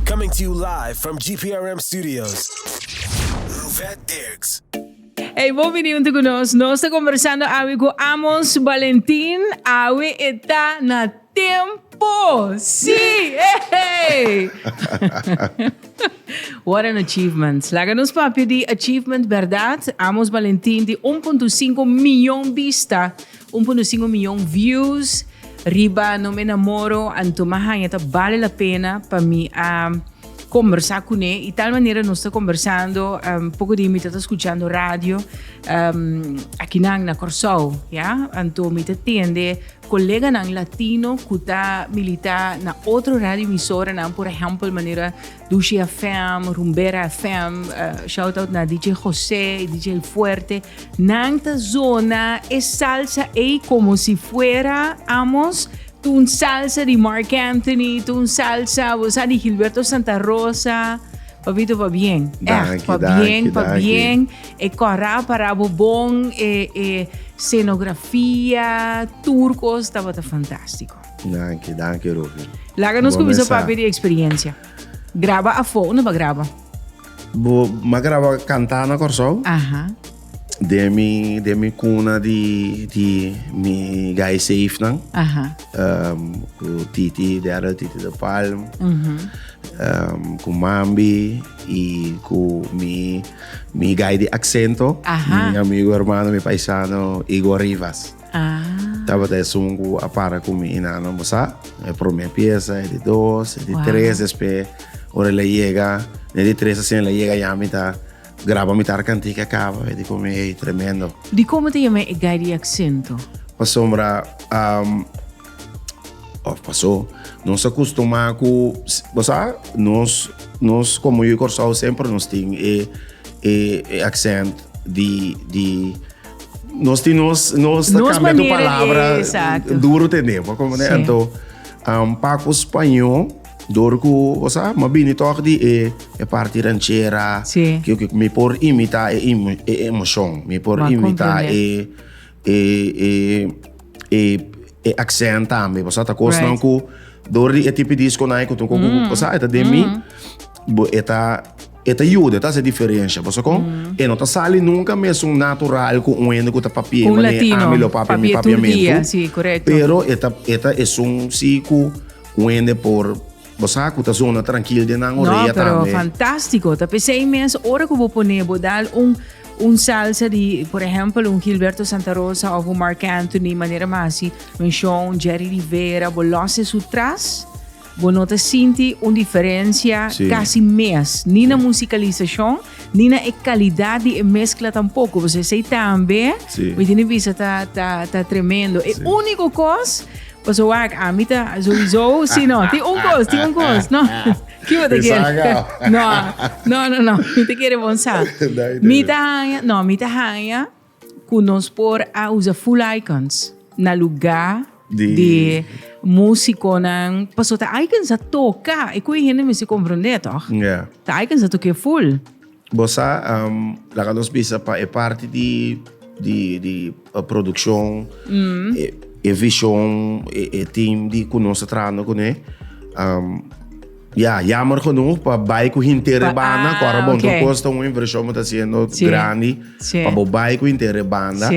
Coming to you live from GPRM studios, Ruvet Dirks. Ey bo bini hunto cu nos. Nos ta conversando awe cu Amos Valentin. Awe e ta na tempo. Si! Ey! What an achievement. Laga nos papia di achievement, berdad? Amos Valentin di un punto sinku miyon bista Un por no sin un miyon views riba No me enamoro and tuma hanja ta bale la pena pa mi a combersa cune y tal manera nos ta combersando poco di mi ta ta scuchando radio akinan na Corsou ya anto mi ta tende coleganan latino cu ta milita na otro radio emisoranan por ehempel manera Dushi FM, Rumbera FM, shout out na DJ Jose y DJ Fuerte, nan ta zona e salsa ey como si fuera amos tu un salsa di Marc Anthony, tu un salsa bo sa di Gilberto Santa Rosa. Papito pa bien, echt pa bien, pa bien. E cora para bo bon, e, e scenografia, turcos tabata fantastico. Danki, danki Rufi. Laga nos kuminsa papia di eksperiencia. Graba afo, unda pa graba? Bo, ma graba kanta na Kòrsou. Aha. Den mi, den mi kuna di, di mi guy safe nan. Aha. Um, ku Titi, Daryl Titi de Palm. Mhm. Um, ku Mambi i ku mi, mi guy di Aksento. Aha. Mi amigo, hermano, mi paisano Igor Rivas. Ah. Tabata esun ku a para ku mi inano, bo sa? E promé piesa, e di dos, e di tres, despues ora el a yega, e di tres asina el a yega ya mi ta graba mitar kantika kaba, e di pa mi ey, tremendo. Dikon bo ta yama e gai di aksento? Pasobra, òf pasó, nos a kustumá ku, bo sa, nos, nos komo yu Kòrsou semper nos tin e, e aksent di, di. Nos tin nos, nos ta Nos cambia tu manera di- palabra exacto. duro te ne, pa como ne Sí. anto um, Paco Spañó door ku o sa ma bini toch di e e parti ranchera Sí. que que mi por imita e emo- e emoción mi por Ma imita comprende. e e e e E accent tambe paso ata cosnan cu door di e tipi disconan e cu tin coco cu paso e ta den mi bo e ta e ta yuda e ta haci diferencia paso con e no ta sali nunca mesun natural cu un hende cu ta papia manera ami lo papia mi papiamento pero e ta e ta esun si cu un hende por. Bo sa cu ta zona trankil den nan orea tambe. No, pero fantastico ta pesey mes ora cu bo pone bo dal un un salsa di por ejemplo un Gilberto Santa Rosa of un Mark Anthony manera masi un show un Jerry Rivera bo losse su tras bo no ta sinti un diferencia sí. casi mes ni na musicalizacion ni na e calidad di e mezcla tampoco pues esey tambe sí. mi tiene visa ta, ta, ta tremendo e sí. único cos Paso wak, ami ta souiso si no. Tin un cos, tin un cos, no. Ki bo ta kere? No, no, no, no. Mi ta kere bon sa. Mi ta haya, no, mi ta haya cu nos por a usa full icons na lugar di musiconan. Paso ta icons a toca, e cu e hende mester comprende, toch? Ta icons a toca e full. Bo sa, laga nos bisa pa e parti di, di, di produccion, e, e vision, e, e team di cu nos ta trahando cune. ya, jammer genoeg pa bay cu hinter e banda, cu ara bon, tur cos ta un inversion bo ta haciendo grandi, pa bo bay cu hinter e banda,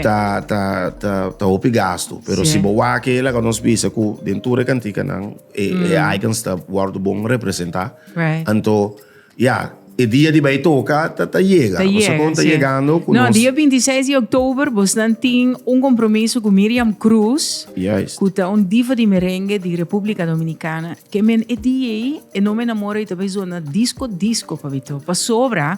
ta, ta, ta, ta hopi gasto. Pero si bo wak e, laga nos bisa cu den tur e canticanan, e, e icons ta wordo bon representa, anto. Ya, e dia di bai toka ta ta yega. Ta Boso kon yega, ta sí. yegando ku No, nos. dia 26 di oktober bosnan tin un kompromiso ku Miriam Cruz, Juist. ku ta un diva di merenge di Repúblika Dominikana. Ke men e dia ei, e nome enamora ei ta bai zona disko disko, papito. Pasobra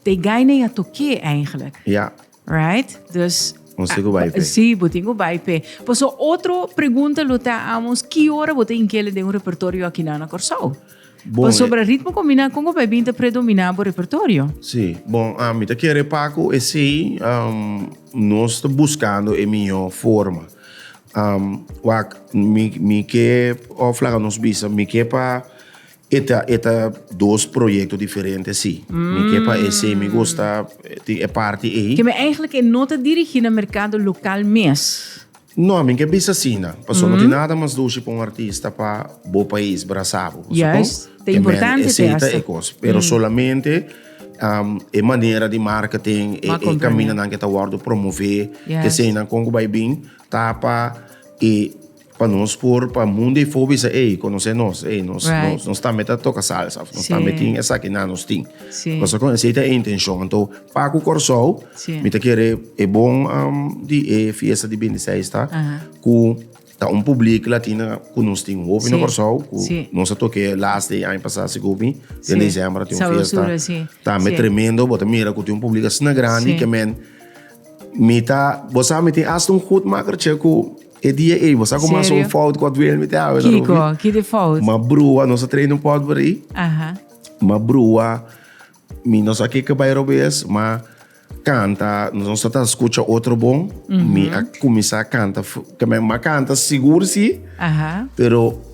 ta e gaina ei a tok'é, eigenlijk. Ya. Right? Dus Ons tin ku bai pe. Sí, bo tin ku bai pe. Paso otro pregunta lo ta amos, ki ora bo ta inkele den un repertorio akinan na Kòrsou? Bon, Pasobra ritmo kombiná, kon ku bai bin ta predominá bo repertorio? Sí, bon, ah, mi ta kere pa ku esei um, nos ta buskando e mihó forma. Um, wak, mi, mi ke, òf laga nos bisa, mi ke pa E ta e ta dos proyecto diferente si. Mi ke pa esei mi gusta tin e parti ei. Ke mi eigenlijk e no ta dirigi na mercado local mes. No, mi ke bisa asina. Paso no tin nada mas dushi pa un artista pa bo pais brasa bo. Paso kon e mende esei ta e kos. Pero solamente e manera di marketing e e kaminda nan ke ta wòrdu promove eseinan kon ku bai bin ta pa e. Pa nos por pa mundo e fo bisa ey conoce nos ey nos right. nos tambe ta toca salsa of nos sí. tambe tin esaki na nos tin sí. cosa con ese ta intención anto pa cu Corsou sí. mi ta kere e bon um, di e fiesta di 26 ta uh -huh. cu ta un publiek latina cu nos tin hopi sí. na Corsou cu sí. nos a toque last day año pasado se gubi sí. den diciembre tin un fiesta sí. tambe sí. tremendo bota mira cu tin un publiek asna grande sí. que men mi ta bosa mi tin hasta un goed maker che cu E dia ey bo sa cu mas un fout cu Wilmy te hawe na Ruby? Kiko, ki di fout? Ma brua, nos a train un pot por ahí. Aha. Ma brua, mi no sa keke bay robes, ma canta, nos no ta escucha otro bon. Mi a cuminsa canta, ma canta sigur si, Aha. pero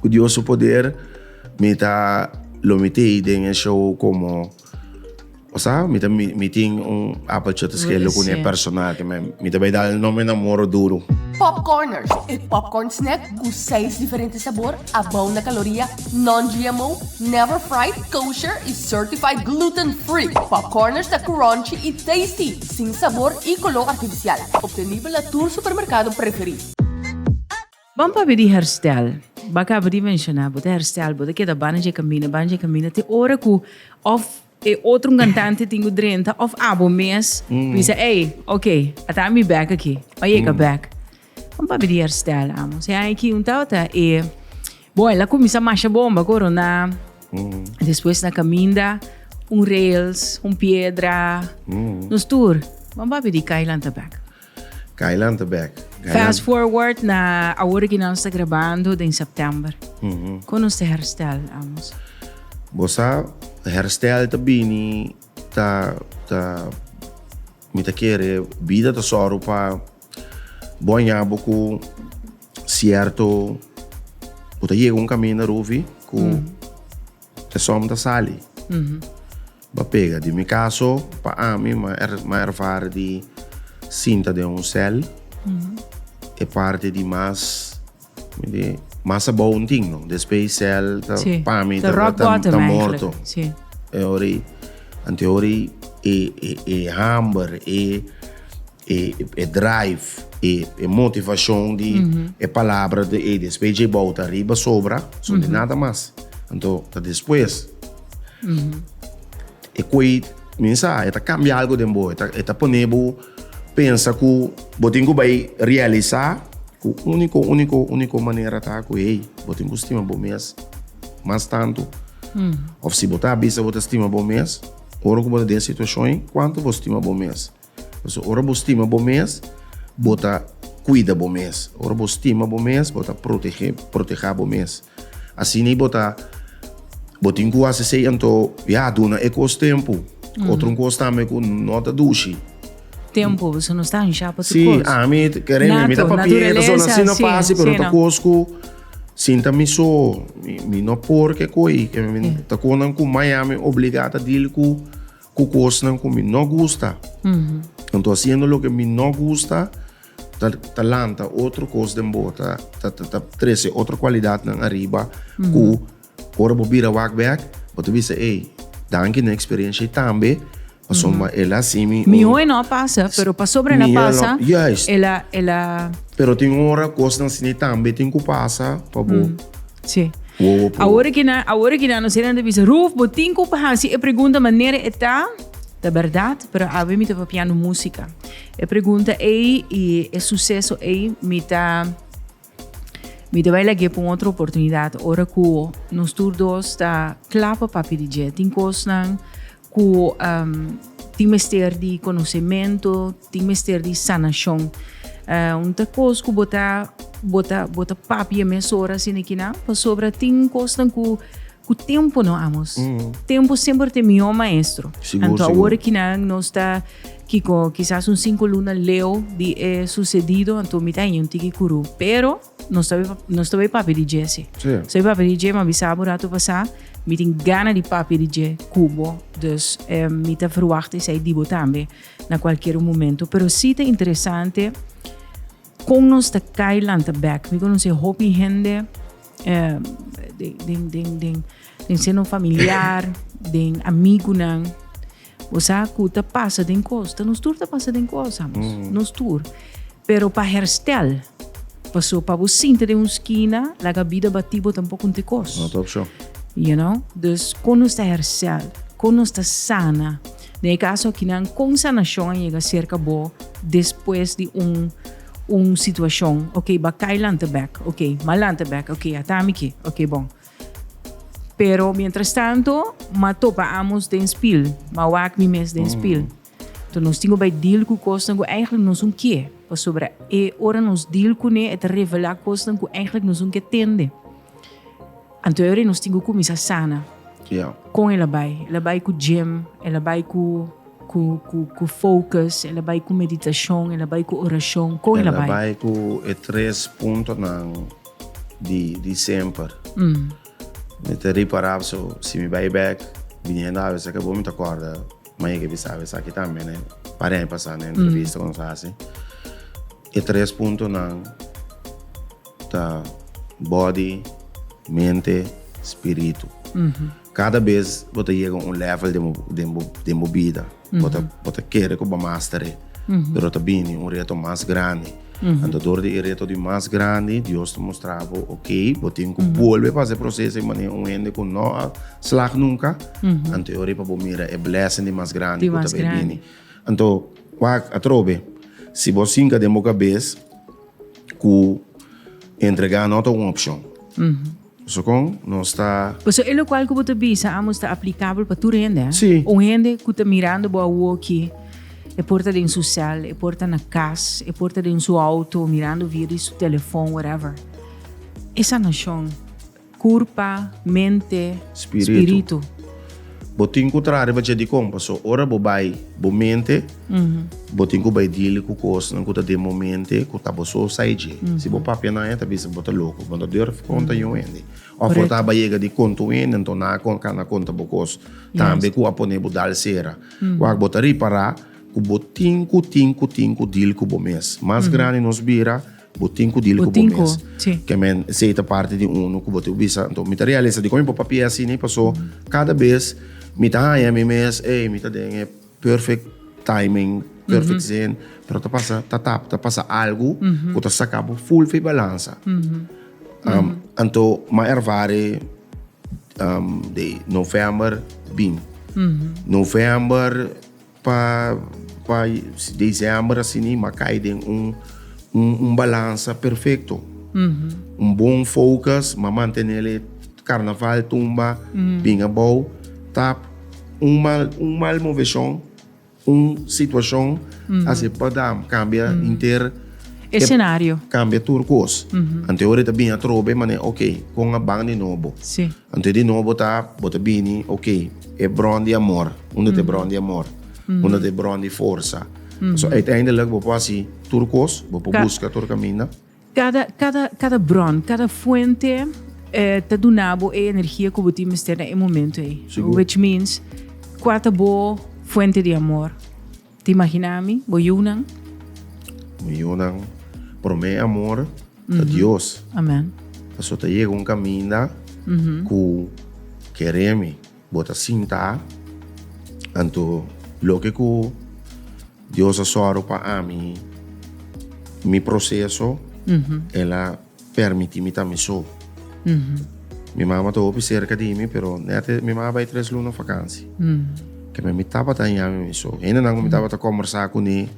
Ku Dios su poder mi ta lo mit'ei den e show komo osea mi ta mi tin un apeltje ta skele ku e personal ke mi ta bai dal nome nan moro duru. Pop Corners, e popcorn snack ku seis diferente sabor, abou na kaloria, non-GMO, never fried, kosher i certified gluten free. Pop Corners ta crunchy i tasty, sin sabor i koló artifisial. Obtenibel na tur supermerkado preferí. Ban papia di herstel. Ba caba di menciona, bo ta herstel, bo ta keda banda dje camina, banda dje camina, te ora cu of e otro un cantante tin cu drenta of abo mes bisa, ey, ok, a ta ami bek aki, pa yega bek. Ban papia di herstel, amo. Sea hay aki un tabata e, bon, el a cuminsa masha bomba, corona, despues na caminda, un rails, un piedra, nos tur, ban papia di cay lanta bek. Gailan ta bek. Fast forward na awor ki nos ta grabando den september. Kon nos ta herstel, Amos? Bo sa, herstel ta bini, ta, ta, mi ta kere, bida ta sòru pa bo a ña bo ku sierto, bo ta yega un kaminda, Ruvi, ku esom ta sali. Ba pega di mi kaso, pa ami ma ma ervare di sinta den un sèl, e parti di mas di mas abou un tin no, despe e sèl ta Sí, pa mi ta ta rock ta bottom ta morto. eigenlijk. Sí. E ora i anteora i e e e hamber e E e drive, e e motivashon di e palabra di ei despues dje bou ta riba sobra, son di nada mas. Anto ta despues. E koe mi sa, e ta kambia algu den bo, e ta e ta pone bo pensa ku bo tin ku bai realisa ku uniko uniko uniko manera ta ku ei bo tin ku stima bo mes mas tantu. Òf si bo ta bisa bo ta stima bo mes, ora ku bo ta den situashon ei, kuantu bo stima bo mes. Pasobra ora bo stima bo mes, bo ta kuida bo mes. Ora bo stima bo mes, bo ta protegé, protegá bo mes. Asina i bo ta, bo tin ku hasi esei anto ya duna e kos tempu. Otro un kos tambe ku no ta dushi. Tempu, boso no sta anshá pa tur Si, kos. ami ta kere, mi ta Natu- papia, naturalesa, pasobra asina no si, pasa, pero ta sena. kos ku sinta mi so, mi, mi no por ke ko'i, ke mi ta kontan ku mai ami obligá ta dil ku. Cu cosnan cu mi no gusta. Anto haciendo loke mi no gusta ta, ta lanta otro cos den bo, ta, ta, ta, ta trece otro cualidadnan ariba cu ora bo bira wak bek, bo ta bisa, ey, danki na experiencia y tambe pasobra ma el a haci mi. Mi hoy no a pasa, pero pasobra el a Mijo no, pasa, juist. el a, el a. Pero tin ora cosnan asina tambe tin cu pasa pa bo. Sí. Wowo po. Awor ki na, awor ki na no seran de bisa, Ruf, bo tin ku pa hasi e pregunta manera e ta? Ta berdad, pero awe mi ta papiando música. E pregunta ei i e suceso ei mi ta mi ta bai lag'é pa un otro oportunidad ora ku nos tur dos ta kla pa papia di dje. Tin kosnan Ku tin mester di konosementu, tin mester di sanashon. Un ta kos ku bo ta, bo ta, bo ta papia mes ora sin e kina, pasobra tin kosnan ku, ku tempu no amos. Tempu semper ta e mihó maestro. Sigur, sigur. Anto awor e kinan nos ta, kiko, kisas un sinku luna leu di e susedido, anto mi ta haña un tiki kurú. Pero. Nos ta bai, nos ta bai papia di dje, si. Si. Nos ta bai papia di dje, mi a bisa bo rato pasá, mi tin gana di papia di dje ku bo. Dus, mi ta ferwagt esei di bo tambe na kualkier un momento. Pero si ta interesante kon nos ta kai lanta bèk. Mi konosé hopi hende den, den, den, den seno familiar, den amigunan, O sa ku ta pasa den kosta, nos tur ta pasa den kosta, amos. Nos tur. Pero pa herstel, paso pa bo sinti den un skina, laga bida batí bo tampoco un tikos. No ta opshon. You know? Dus, kon nos ta hersel? Kon nos ta sana? Den e kaso akinan, kon sanashon a yega serka bo despues di un un situashon? Oke, bakai lanta bek. Oke, mal lanta bek. Oke, a tami ke. Oke, bon. Pero mientras tanto, ma topa amos den spil, ma wak mi mes den spil. Entonces nos tin go bay deal cu cosnan cu eigenlijk nos un kie. Pasobra e ora nos deal cune e ta revela cosnan cu eigenlijk nos un ke tende. Anto e ora nos tin go cuminsa sana. Con el a bay? El a bay cu gym, el a bay cu cu focus, el a bay cu meditacion, el a bay cu oracion. Con el a bay? El a bay cu e tres puntonan. di di semper mi ta ripará so si mi bai bek biniendo awe esaki bo mi ta kòrda manera ke bisa awe esaki tambe ne par'e a pasa na entrevista ku nos a hasi e tres puntonan ta bòdi mente spiritu. Kada bes bo ta yega un level den bo den bo den bo bida bo ta bo ta kere ku bo master e pero ta bini un reto mas grandi anto dor di e reto di mas grandi Dios ta mustra bo oke bo tin ku bolbe pa hasi e proseso di manera un hende ku no a slag nunka anto e ora pa bo mira e blessing di mas grandi ku ta bai bini anto wak atrobe si bo sinka den bo kabes ku entrega no ta un opshon. Paso con nos ta. Paso e locual cu bo ta bisa amos ta aplicabel pa tur hende. Sí. Un hende cu ta mirando bo awoki, e por ta den su cel, e por ta na cas, e por ta den su auto mirando via di su telefon, whatever. E sanacion, curpa, mente, Spiritu. spiritu. Bo tin ku traha riba dje dikon, paso ora bo bai bo mente, bo tin ku bai deal ku kosnan ku ta den bo mente, ku ta bo so sai dje. Si bo papia nan e ta bisa bo ta loko, bo no ta durf konta yon hende. Òf bo ta aba yega di konta un hende, anto nan a kon kanda konta bo kos tambe ku a pone bo dal sera. Wak bo ta ripará ku bo tin ku tin ku tin ku deal ku bo mes. Mas grandi nos bira. Bo tin cu dil cu bo mes. Ke men esey ta parti di unu cu bo tin cu bisa. Enton mi ta realisa dikon mi por papia asini paso cada bes mi ta haña mi mes ey mi ta den e perfect timing, perfect zin pero ta pasa ta tap ta pasa algu cu ta saca bo full fi balansa. Anto mi a ervare di November bin. November. Pa pa diciember asini m'a cay den un un balanza perfecto. Un bon focus, m'a mantenel e carnaval tumba bin abao tap un mal un mal movecion, un situacion así pa dam cambia henter Escenario. cambia tur cos. Antehoren ta bin atrobe mane ok con a ban di nobo. Si. Anto di nobo ta, bo ta bini, ok, e bron di amor, unda ta e bron di amor? Unda ta e bron di forsa? Pasobra uiteindelijk bo por hasi tur kos, bo por buska tur kaminda. Kada, kada, kada bron, kada fuente ta duna bo e energia ku bo tin mester na e momento ei. Sigur. Which means, kua ta bo fuente di amor? Ta imagina mi, bo yunan. Mi yunan, prome amor ta Dios. Amen. Paso ta yega un caminda cu kere mi, bo ta sinta, anto loke cu Dios a zorgo pa ami, mi proceso, el a. Permiti mi ta mi so. Mi mama ta hopi serka di mi, pero nète mi mama bai tres luna fakansi. Kemia mi tabata haña mi mi so. Hendenan ku mi tabata kòmbersá kuné,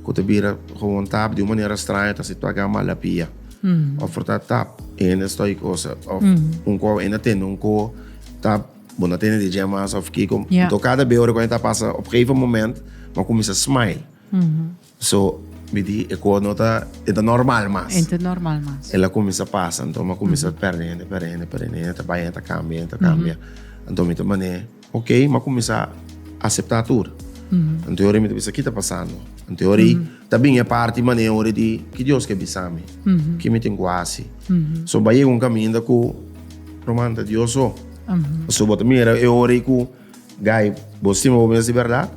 ku ta bira gewoon tap, di un manera straño ta si tòg a malapia. Òf por ta tap hende stòi kos, òf un kò hende a tende un kò, tap bo na tende di dje mas òf kiko. Anto kada be ora ku hende ta pasa, op gegeven moment mi a kuminsá smile. So mi di e koe no ta e ta normal mas. E ta normal mas. El a cuminsa pasa anto mi a cuminsa perde hende perde hende perde hende hende ta bay hende ta cambia hende ta cambia anto mi ta mane ok mi a cuminsa acepta tur anto ora mi ta bisa ki ta pasando anto ora y ta bin e parti mane ora di ki Dios ke bisami ki mi tin cu haci so a bay yega un caminda cu lo manda Dios so pasobra bo ta mira e ora y cu. Guy, bo stima bo mes di berdad?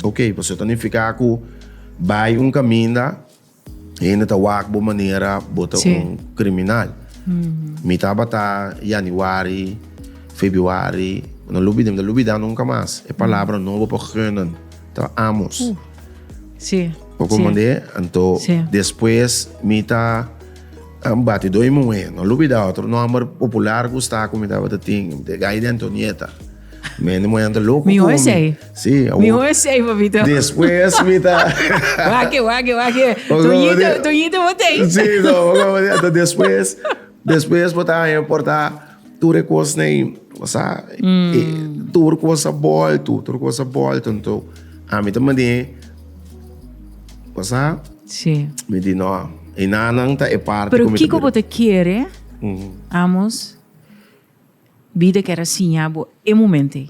Ok, pues eso ta nifica cu bay un caminda hende ta wak bo manera bo ta un criminal. Mi tabata Januari, Februari, no lo bida, mi no ta lubida nunca mas. E palabra no bo por gunnen ta amos. Bo comprende? Anto despues mi ta. Nan bati doi muhé. No lo bida otro nòmber popular ku sta ku mi tabata tin. Mi te gai di Antonieta. Mi hende muhé nan ta loko ku mi. Mihó esei. Si. Mihó esei, papito. Despues mi ta. Wak, wak, wak. Toñito, Toñito bo tei. Si, no. Bo komo di ato. Despues, despues bo ta haña mi por ta. tur e kos nei sa e, tur kos a bolto tur kos a bolto nto ami ta mane sa Sí. mi di no e nanan ta e parte Pero kumi kiko bo ta kere amos bida kera siña bo e momento ei?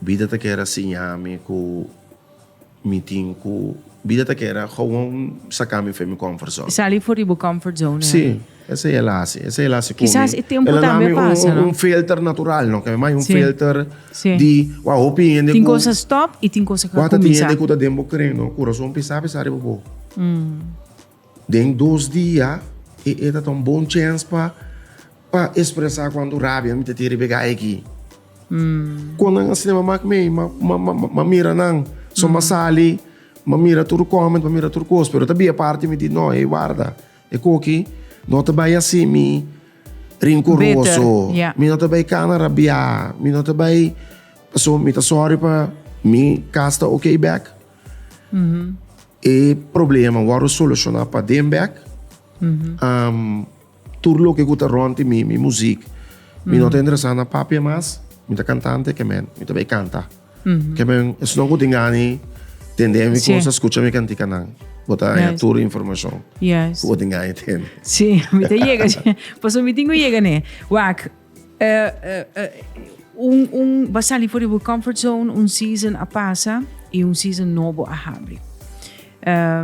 Bida ta kere siñami ku mi tin ku bida ta kere gowon sakami for mi comfort zone. Sali for di bo comfort zone. Si, esei el a hasi. Esei el a hasi ku mi. Kisas e tempu tambe a pasa, no? El a dami un filter natural, no? Kende mai un filter di wak hopi hende ku. Tin kosnan stop i tin kosnan ku a kuminsá. Wak ta tin hende ku ta den bo kren, no? Kurason pisá pisá riba bo. Den dos dia e e ta ta un bon chens pa pa espresa cuanto rabia mi ta tin riba e gay aki. Con nan a cinema mak mey, ma, ma, ma, ma, ma mira nan. So ma sali, ma mira tur comment, ma mira tur cos. Pero ta bia parti mi di no, ey warda. E coki no ta bay asimi rincoroso. Bitter, ya. Mi no ta bay cana rabia, mi no ta bay, paso mi ta sorry pa mi cas ta ok back. E problema wòrdu solushoná pa den bèk. Tur loke ku ta rònt di mi, mi muzik, mi no ta interesá na papia mas. Mi ta kantante kemen, mi ta bai kanta. Kemen esnan ku tin gani tende mi kos a skucha mi kantikanan. Bo ta haña tur informashon ku bo tin gani tende. Sí, mi ta yega. Pasobra mi tin ku yega n'e. Wak, bo sali for di bo comfort zone, un season a pasa y un season nobo a habri.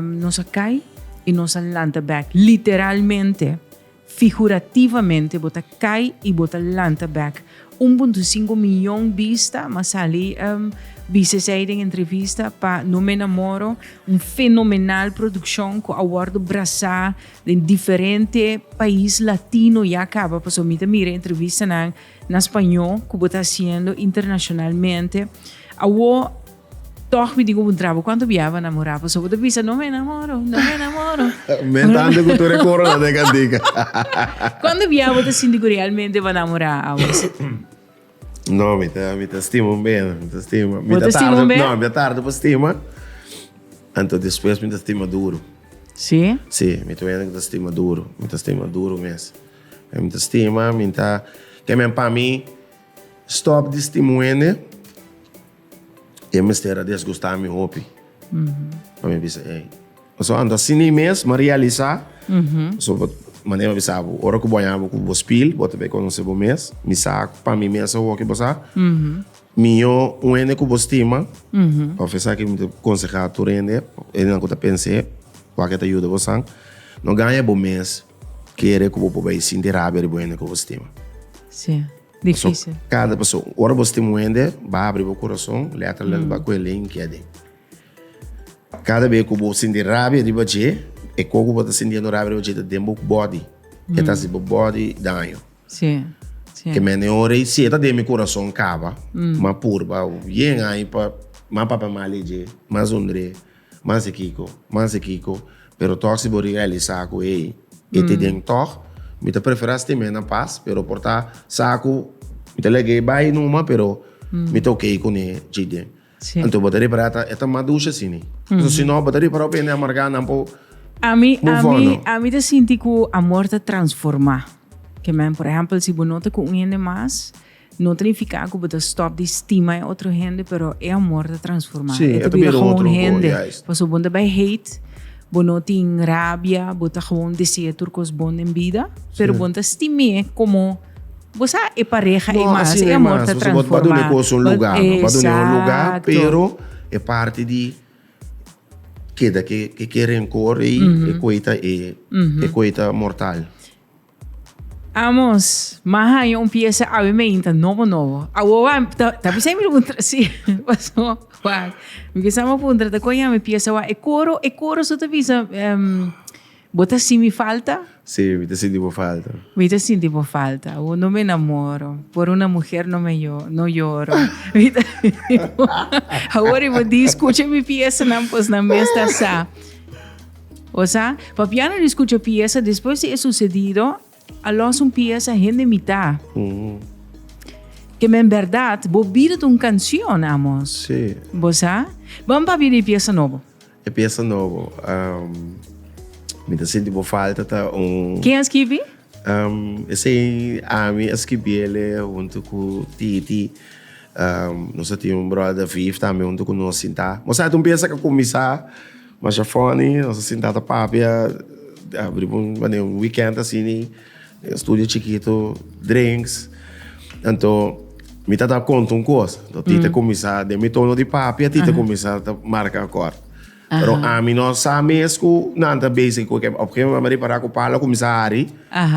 Nos a cay y nos a lanta back, literalmente, figurativamente bo ta cay y bo ta lanta back. Un punto cinco miyon bista m'a sali bisa esey den entrevista pa No Me Enamoro, un fenomenal produccion cu a wordo brasa den diferente pais latino ya caba pasobra mi ta mira entrevistanan na spañó cu bo ta haciendo internacionalmente awor tog mi tin cu puntra bo cuanto bia bo a namora pasobra bo ta bisa no me enamoro no me enamoro me tanta cu tur e coro la den cantica cuanto bia bo ta sinti cu realmente bo a namora awor. No, mi ta, mi ta stima un benda, mi ta stima. Mi ta stima un benda? No, mi ta tarde pa stima, anto despues mi ta stima duro. Sí? Sí, mi ta un hende ku ta stima duro, mi ta stima duro mes. Mi ta stima, mi ta, ke men pa mi stop di stima un hende. E mester a desgusta mi hopi. Pa mi bisa, ey. So anda sin ei mes, ma realisa. So bo, mané bo bisa bo, ora ku bo haña bo ku bo spil, bo ta bay konosé bo mes. Mi sa ku pa mi mes e hoki bo sa. Mihó un hende ku bo stima, pa pesá ke mi ta konsehá tur hende, hendenan ku ta pens'é, wak e ta yuda bosan, no gaña bo mes. Kere ku bo por bai sinti rabia riba un hende ku bo stima. Sí, difísil. Pasobra kada pasobra ora bo stima un hende, bo abri bo kurason, letra letra bo a kohe lei n'kia den. Kada be ku bo sinti rabia riba dje, e koe ku bo ta sintiendo rabia riba dje ta den bo body. E ta hasi bo body daño. Sí, sí. Keme hende ora i sieta den mi kurason kaba, m'a purba yen ai pa m'a papia mal e dje, m'a zondre. Manse kiko, manse kiko, pero tòg si bo realisá ku ei e te den tòg, mi ta preferá stim'é na pas, pero por ta sa ku mi ta lag'é bai numa, pero mi ta okei kuné dje den. Sí. Anto bo ta ripará e ta e ta madusha asini. Pasobra si no bo ta ripará ope hende amargá nan por A mi, a move on, mi, no? a mi ta sinti ku amor ta transformá. Ke men, por ehèmpel, si bo no ta ku un hende mas. No ta nifiká ku bo ta stòp di stima e otro hende, pero e amor ta transformá. Sí, e ta bira otro hende. Pasobra bo no ta bai hate, bo no tin rabia, bo ta gewoon dese'é tur kos bon den bida, pero bo no ta stim'é komo bo sa e pareha ei mas. E amor ta transformá. No, asin ei mas. Bo ta duna e kos un lugá, no ta duna un lugá, pero e parti di keda ke renkor ei, e ku ei ta mortal. Amos, ma haña un pieza awe meinta nobo nobo. Awo wa, ta, ta bisa mi puntra si. Paso, wa, mi bisa ma puntra ta koña mi pieza wa. E coro, e coro su ta bisa, um, bo ta si mi falta? Si, mi ta sinti bo falta. Mi ta sinti bo falta. Awo no me namoro, por una muher no me yo, no yoro. Mi ta, awor i bo di, skucha mi piesanan, pues nan mes ta sa. O sa, papiando di scucha pieza despues di e sucedido, a los un pieza hende mita. Keme en berdad, bo bida ta un cancion, Amos. Sí. Bo sa? Ban papia di e pieza nobo. E pieza nobo, um, mi ta sinti bo falta ta un... Ken a skibi? Um, esei ami a skibiele huntu ku Titi. Um, nos a tin un bròda Viv tambe huntu ku nos sintá. Bo sa, ta un pieza ku a kuminsá. Masha funny, nos a sintá ta papia riba un mane un weekend así ni e studio chikitu drinks anto mi ta ta konta un kos anto Tita a kuminsá den mi tono di papia Tita a kuminsá ta marka akòrt pero ami no sa mes ku nan ta bese ku e kèn op e gegemoment mi a ripará ku palo a kuminsá hari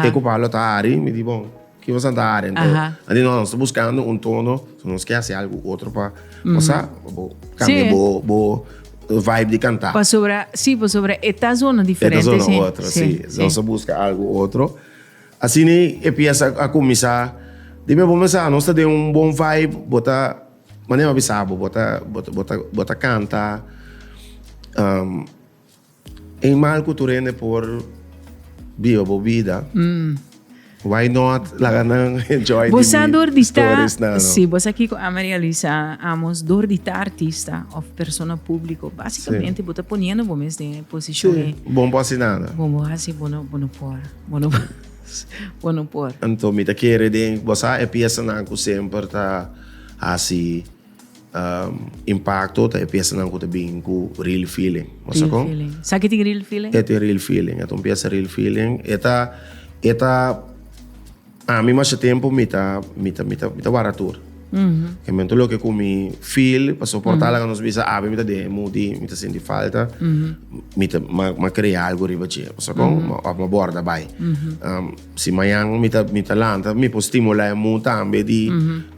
te ku palo ta hari mi di bon. Ki nos a dare ento anto nos ta buskando un tono so nos ke hasi algu otro pa sa bo kambia bo vibe di kanta pasobra si pasobra e ta zona diferente e ta zona otro si nos a buska algu otro asina e piesa a kuminsá di bo mesa nos ta den un bon vibe bo ta manera bo a bisa bo bo ta kanta. Animal cu tur hende por biba bo bida. Mm. Why not? Laga nan enjoy di Bosa mi door di ta, stories na. No? sí, bosa Kiko a Maria Luisa, amos door di ta artista of persona público. Básicamente, bo ta poniendo bo mes den e posición Sí, e bon por hacer nada. bon bo hace, bo no, bo no por, bo no, bo no por. Anto mi ta kere den, bo sa e pieza nan cu semper ta haci impacto ta e piasanan cu ta bini cu real feeling. Mas real con? feeling. Sa que tin real feeling? E tin real feeling. E tin piasa real feeling. E ta, e ta, a mi masha tempo mi ta, mi ta, mi ta, mi ta wara tur. Mm -hmm. E momento lo que cu mi feel, pa soportar mm -hmm. la nos bisa, a mi ta deje mudi, mi ta sinti falta, mm -hmm. mi ta, ma, ma crea algo riba je. Mas con? Mm -hmm. Of ma borda bai. Mm -hmm. um, si mañan mi ta, mi ta lanta, mi po stimula e mu tambe di mm -hmm.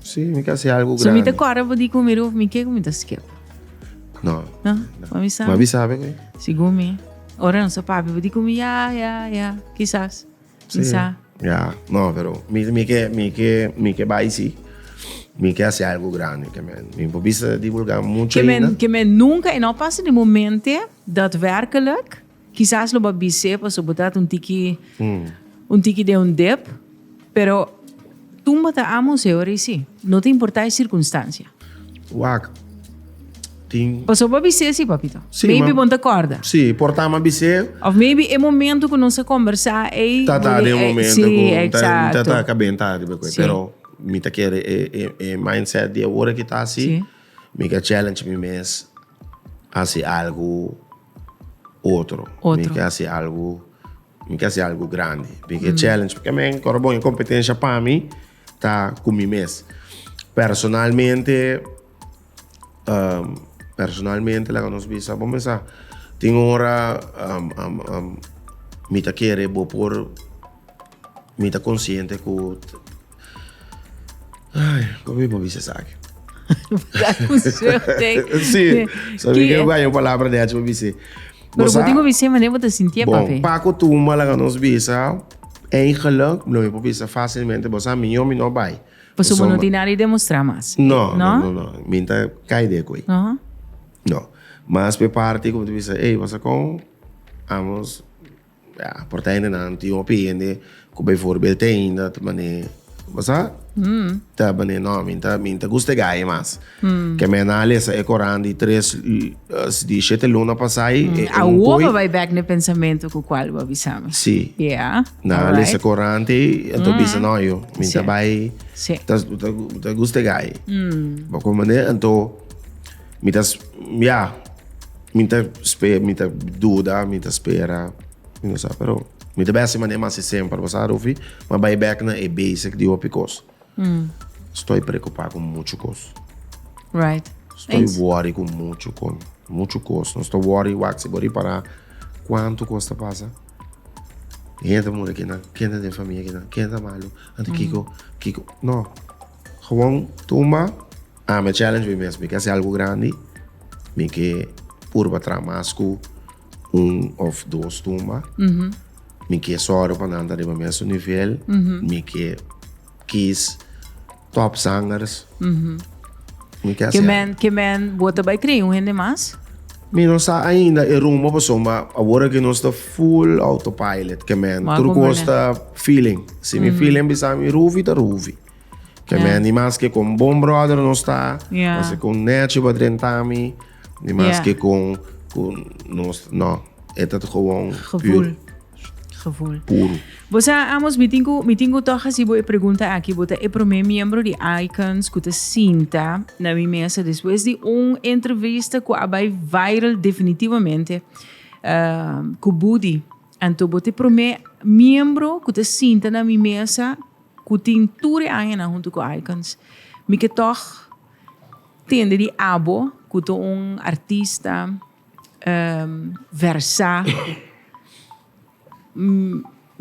Sí, mi ta haci algo grandi. So mi ta corre pa di cu mi ruf mi ke cu mi ta skip? No. No? Ma mi sabe. Ma mi sabe que? Sigur mi. Ora no sa papi pa di cu mi ya, ya, ya. Quizás. Sí. Quizá. Ya, no, pero mi, mi ke, mi ke, mi ke bai si. Mi ke haci algo grandi ke men. Mi por bisa divulga mucho. Ke men, ke men nunca e no pasa di momente daadwerkelijk. Kisas lo bo bis'é pasobra bo ta un tiki un tiki den un dep, pero tumba ta ama un señor ei sí, no ta importá e circunstancia. Wak, tin. Pasobra bo a bis'é sí, papito. Sí, ma. Maybe bo no ta kòrda. Sí, por ta ama bis'é. Of maybe e momento ku nos a kombersá ei. Ta ta den un momento ku. Sí, eksato. Ta ta ka benta ariba ku e. Sí. Pero mi ta kere e mindset di awor aki ta así. Sí. Mi ka challenge mi mes. hasi algu otro. Mi ke hasi algu, mi ke hasi algu grandi. Mi ke challenge. Paske mi ain ora bon e kompetensha pa mi ta ku mi mes. Personalmente, personalmente laga nos bisa, bo mesa tin ora mi ta kere bo por Mi ta konsiente ku Por mi por bisa esaki. Da konsèu te. Si, sa mi ke baña un palabra di achi pa bis'é. Pero bo tin ku bis'é manera bo ta sintié, pape. Bon, pa kutumba laga nos bisa eigenlijk, lo mi por bisa fásilmente, bo sa mi no, mi no bai. Pasobra bo no tin nada di demostrá mas. No, no, no, no. Mi ta kai di e koi. No. Mas p'e parti ku mi ta bisa, ey, wòs a kon? Amos. Ya, por ta hendenan, tin hopi hende ku beivoorbeeld te ainda ta manera bo sa? ta manera no, mi ta mi ta gusta e gaya mas. Ke me na lesa e koran di tres di shete luna pasá ei e un Awor poi. bo bai bek na e pensamentu ku kual bo a bisa mi. Si. Ya. Na Alright. lesa koran te ei a ta bisa no yo mi ta Sí. bai Sí. ta ta gusta e gaya. Bo kon manera anto Mi ta ya mi ta spera mi ta duda mi ta spera mi no sa pero mi ta bese mane mas e semper basa Rufi ma bay back na e basic di hopi cos mm. estoy preocupa con mucho cos right estoy Eens. worry con mucho con mucho cos no estoy worry wak si bori para cuánto cos ta pasa gente moeder que na kende de familia que na kende malo anto mm. kiko kiko no gewoon tumba Ah me challenge mi mes, mi ke hasi algu grandi, mi ke purba traha mas ku un of dos tumba, mi ke sòru pa nan ta riba mesun nivel, mi ke kis top zangers, mi ke hasi algu. Kimen bo ta bai kri un hende mas? Mi no sa ainda e rumbo pasobra mi awor aki nos ta full autopilot kimen tur kos ta feeling, si mi feeling a bisa mi rufi ta rufi. Ke yeah. men di mas ke kon bon brother nos ta, yeah. mas ke kon nechi pa drentami, di mas yeah. ke kon kon nos no. Het het gewoon gevoel. Puur. Gevoel. Puro. Bosa amos mi tingu mi tingu toch hasi bo e pregunta aki bota e primer miembro di Icons ku te sinta na mi mesa después di un entrevista ku abai viral definitivamente uh, ku Budi. Anto bote primer miembro ku te sinta na mi mesa ku tin tur e añanan huntu ku Aikons, mi ke tòg tende di abo ku ta un artista versá.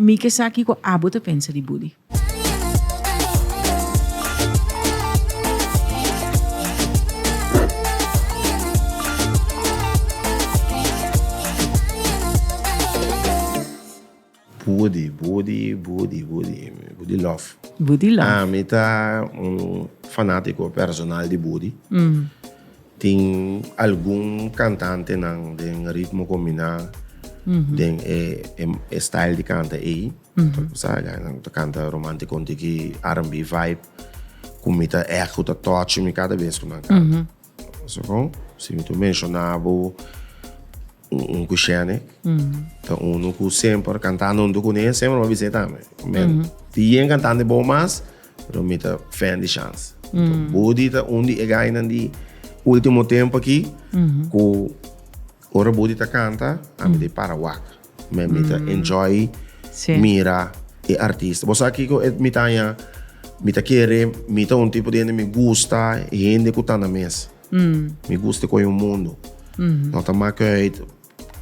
Mi ke sa kiko abo ta pensa di Buddy. Budi, budi, budi, budi, budi lof. Budi lof. Ah, mi ta un fanatico personal di budi. Tin algun cantantenan den ritmo combina den e, e, e style di canta ey. Sabe, nan ta canta romanticon tiki R&B vibe, cu mi ta echt cu ta touch mi cada bes cu nan canta. Segun si mi tu menshona bo un ku shene ta unu ku semper kantá nuntu kuné e semper a bis'é tambe men di yen kantante bon mas pero mi ta fèn di shans Budi ta un di e gainan di ultimo tempu aki ku. Ora Buddy ta canta ami ta e para wak me mi ta enjoy mira e artista bo sa kico e mi ta haña mi ta kere mi ta un tipo di hende mi gusta hende cu ta na mes mi gusta e coyo mundo no ta make uit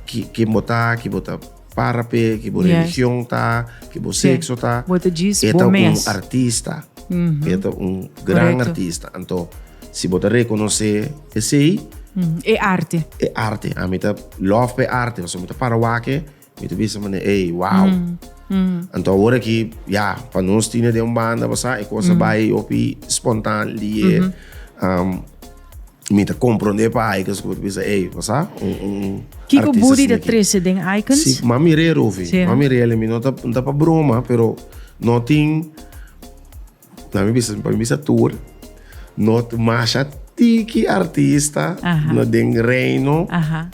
ki ken bo ta ki bo ta. Para p'e ki bo religion ta, ki bo sexo ta, e ta un artista, e ta un gran artista. Anto, si bo ta rekonosé esei, E arte. E arte. Ami ta lòf p'e arte, pasobra mi ta para wak-e, mi ta bisa manera, ey, wow. Anto awor aki, ya, pa nos tine den un banda, bo sa, e kos a bai hopi spontan, liye. Y mi ta compronde pa Aikens cu mi ta bisa, ey, bo sa un, un artista Kiko asina Budi ta aki. trece den Aikens? Si, mami real hovi, Sí, ah. mami real y mi no ta, no ta pa broma, pero no tin, na mi bisa, pa mi bisa tur, no, masha tiki artista Aha. na den reino. Aha.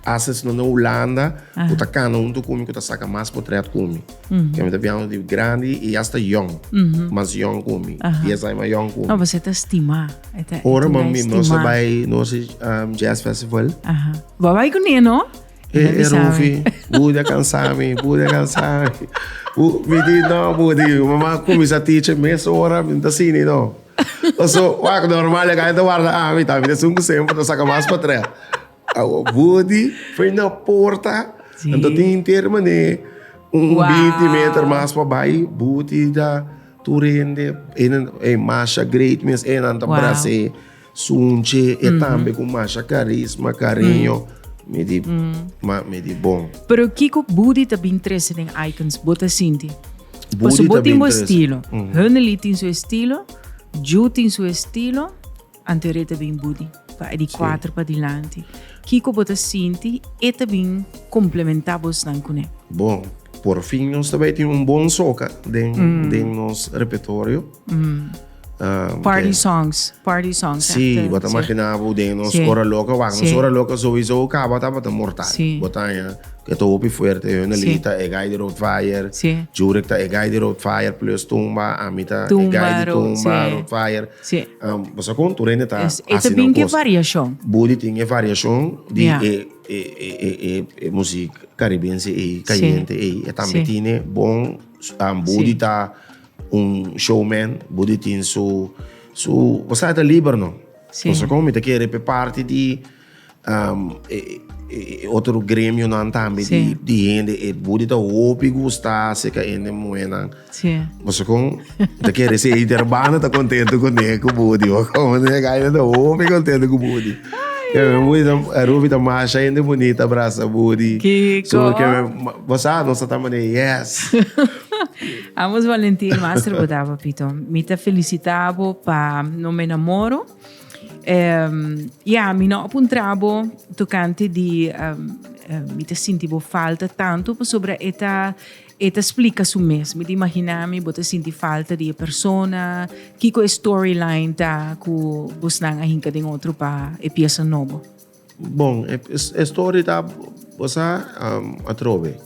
Hasta si no na Hulanda bo ta cana hunto cu mi cu ta saca mas potret cu mi. Porque mi ta bia hunto di grandi y hasta yong, mas yong cu mi, dies aña mas yong cu mi. No, boso ta stima. Ora ma mi no sa bay no sa jazz festival. Bo a bay cu ne no? E Rufi, bo dia cansa mi, bo dia cansa mi. Mi di no, bo di mi mama cuminsa teacher mes ora mi no ta sini no. Paso, wak, normal, e gana ta warda ami, ta mi ta sun ku semper ta saka mas pa trè. Awo, budi, fen na porta, anto tin henter man'é un binti meter mas pa bai, budi ta tur hende, e masha great mes, e nan ta bras'é, sunchi e tambe ku masha karisma, kariño, mi di, mi di bon. Pero kiko budi ta bin trese den Icons, bo ta sinti? Pasobra bo tin bo estilo. Hunnely tin su estilo, Ju tin su estilo, Anteré ta bin Budi, pa e di kuater padilanti. Kiko bo ta sinti e ta bin komplementá bosnan kuné? Bon, porfin nos ta bai tin un bon soca den nos repetorio. Party songs, party songs. Sí, bo ta imagina bo den nos hora loca, wak nos hora loca sowieso caba tabata mortal. Bo ta haña ke ta hopi fuerte, Hunnely ta e guy di Rood Fire, Jurek ta e guy di Rood Fire plus Tumba, ami ta e guy di Tumba, Rood Fire. Bo sa kon tur hende ta haci nan cos. E ta bin ku e variashon. Body tin e variashon di e muziek caribense ei, cayente ei. E tambe tine bon body ta. Un showman bo di tin su su pasaje ta liber no. Sí. Paso como mi ta kere pe parte di um, e, e, e otro gremionan tambe Sí. di, di hende e bo di ta hopi gusta acerca hende muenan. Sí. Paso como ta kere si e hermano ta contento con e con bo di o como ne ga e ta hopi contento con bo di. Ke men bo di ta a Ruby ta masha hende bonita abrasa bo di. Kiko. So ke men bo sa nos ta mane yes. Amos Valentin Master bo ta papito. Mi ta felicitabo pa no me namoro. Um, ja, mi no apuntrabo tocante di um, um, mi ta sinti bo falta tanto pasobra eta eta explica su mes. Mi ta imagina mi bo ta sinti falta di e persona. Kiko e storyline ta ku bosnan a hinka den otro pa e pieza nobo? Bon, e story ta bosa atrobe.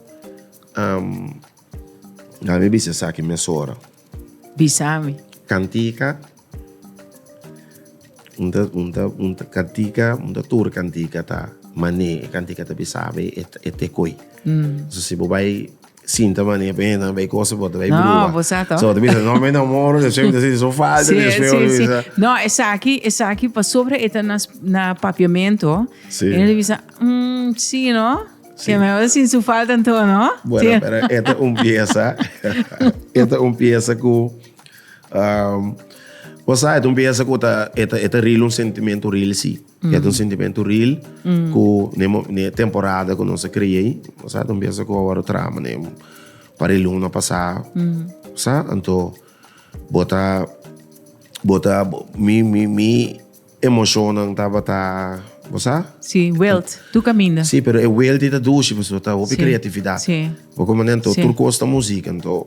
Dal mi bisa esaki mesora. Bisa mi. Cantica, un ta, un ta, un ta cantica, un ta tur cantica ta mane e cantica ta bisabe e, e te koi. Mm. So si bo bai Sinta mane pe hendenan bay cosa bo ta bay bruba. No, sa to. So ta bisa no me no moro de sueño si so falta de sueño si sa. No esaki esaki pasobra e ta na na papiamento. Si. E ta bisa mm si no. Si. Ke mehor sin su falta anto no. Bueno pero e ta un pieza e ta un pieza ku um bo sa e ta un pieza ku ta e ta e ta rila un sentimento real si. Ya mm. un sentimento real mm. ku ne, ne temporada ku nos creei. Sa don pensa ku awor trama ne para luna pasa. Mm. Sa anto bota bota mi mi mi emocionan taba ta Bosa? Si, welt. Tu caminda. Si, pero e welt ita dushi, pues, ta hopi creatividad. Si. Porque, man, ento, sí. tur costa música, ento,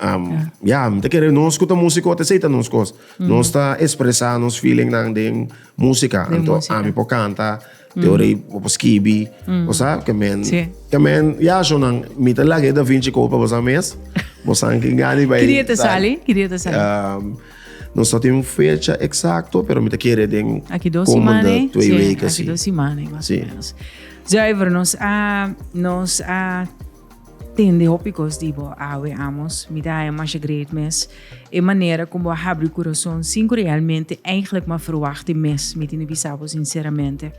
Um, ja, mi ta kere, nos ku ta musiko ta seita nos kos. Nos ta ekspresa nos feeling nan den musika. Den Anto, musika. ami po kanta, te ora i po po skibi. O sa, ke men, Sí. ke men, ja, so nan, mi ta lage Da Vinci Code pa bosa mes. Bosa anki ngani bai. Ki dia te sa- sali? Ki dia te sali? Um, nos no tin un fecha eksakto, pero mi ta kere den Aki dos komende semana, eh? twee Sí, weken, aki sí. dos semana, más Sí. o menos. Zuiver, nos a, nos a Tin di hopi cos di bo awe amos. Mi ta haña masha great mes. E manera cu bo a habri u curason sin cu realmente eigenlijk mi a verwacht di mes, mi tin di bisa bo sinceramente.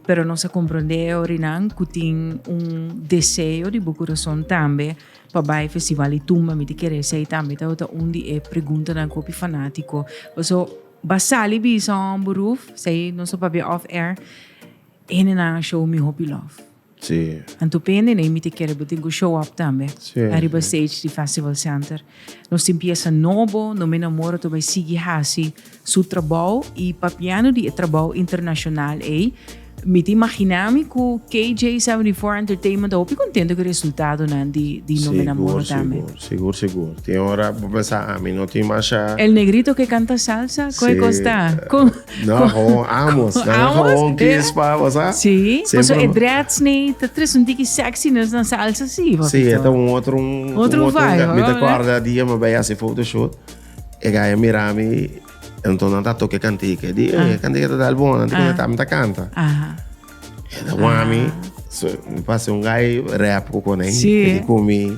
Pero nos a comprende e orinan cu tin un deseo di bo curason tambe pa bay Festival di Tumba. Mi ta kere esey tambe tabata un di e preguntanan cu hopi fanatico paso ba sali bisa, hombru, esey nos a papia off air, e hendenan a show mi hopi lof. Anto pende no imiti kere bo tin ku show up tambe ariba stage di Festival Center. Nos tin piesa nobo, no Mina Mora ta bai sigui hasi su trabou i papiando di e trabou internashonal ei mi ta imaginá mi ku KJ seventy four Entertainment ta hopi kontento ku e resultadonan di no Mina Mora tambe. Sigur sigur sigur tin ora bo pensa ami no tin mashá. El Negrito ke kanta salsa? Kon e kos ta? No, gewoon amos. Dan amos, gewoon kies pa basa. Sí, pues e dreads ni te tres un tiki sexy nes dan salsa sí. Sí, eta un otro un otro vibe. Mi te acorda dia me bij hace photoshoot. E gaya mira mi entonces ta toque cantique. Di, eh, cantique te dal bon, antes ah. me ta canta. Aha. E da wami, so, mi pase un gay rap ko konen. Sí. E di komi.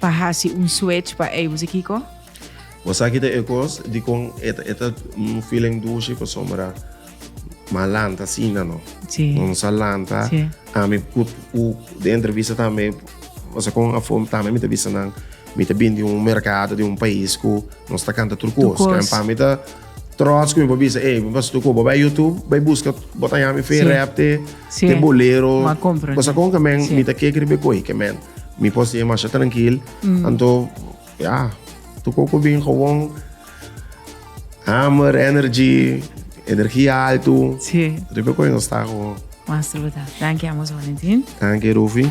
Pa hasi un switch pa ei, wos e kiko? Bo sa kita e kos dikon e ta e ta un feeling dushi pasobra m'a lanta asina no. Si. No nos a lanta. Si. Ami ku ku den e entrevista tambe o sea kon afó tambe mi ta bisa nan mi ta bini di un merkado di un pais ku nos ta kanta tur kos. Tur kos. Kan pa mi ta Trots ku mi por bisa, ey, bos tu koba bai YouTube, bai buska, bota ya mi fe rap te, te bolero. Ma compra. Bosa kon ke men, mi ta ke kri be koi ke men. Mi por si masha trankil. Mm. Anto, ya, tu koko bin gewoon hammer, energy, energia alto. Si. Ribe koi no sta gewoon. Mas truta. Danki amos Valentin. Danki Rufi.